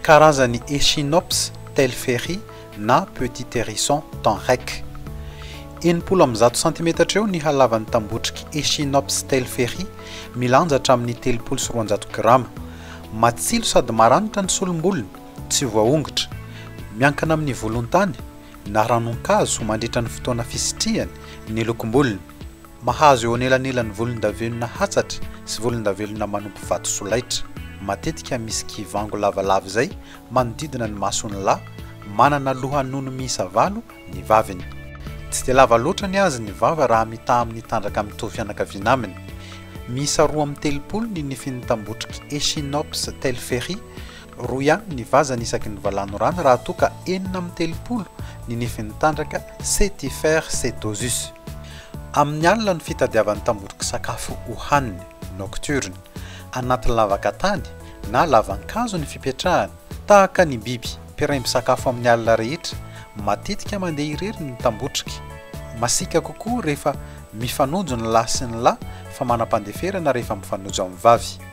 Karazan'ny Echinops telferi na petit hérisson temps rec. Enimpolo amby zato santimetatra eo ny halavan'ny tambotriky Echinops telferi, milanja hatramin'ny telopolo sy roanjato grama. Matsilo sady maranitra ny solom-bolony, tsy voaongotra. Miankina amin'ny volon-tany na ranon-kazo mandritra ny fotoana fisitrihany ny lokom-bolony. Mahazo eo anelanelan'ny volondavenona hatsatra sy volondavelona manopy vato solaitra. Matetika misy kivango lavalava izay manodidina ny mason'ny lahy, manana lohanono miisa valo ny vaviny. Tsy dia lava loatra ny azy ny vava raha mitaha amin'ny tandraka mitovy fianakaviana aminy. Miisa roa amby telopolo ny nifin'ny tambotriky Echinops telferi. Roa ihany ny vazany isaky ny valanorano raha toa ka enina amin'ny telopolo ny nifin'ny tandraka Setifer setosus. Amin'ny alina no fitadiavany tambotrik'sakafo hohaniny, nocturne. Anaty lavaka tany na lavankazo ny fipetrahany. Tahaka ny biby mpiray misakafo amin'ny alina rehetra, matetika mandeha irery ny tambotriky. Masiaka kokoa rehefa mifanojo ny lahy sy ny lahy fa manam-pandeferana rehefa mifanojo amin'ny vavy.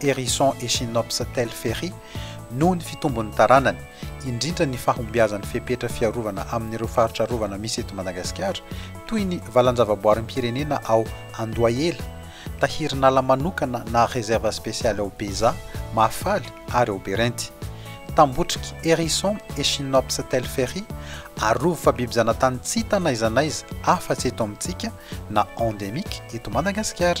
Hérisson Echinops telferi, noho ny fitombon'ny taranany, indrindra ny fahombiazan'ny fepetra fiarovana amin'ireo faritra arovana misy eto Madagasikara, toy ny valan-javaboarim-pirenena ao Andohahela, tahirin'ala manokana na réserve spéciale ao Beza, Mahafaly ary ao Berenty. Tambotrik'i Hérisson Echinops telferi, arovy fa biby zanatany tsy hita n'aiza n'aiza afa-tsy eto amintsika, na endemique eto Madagasikara.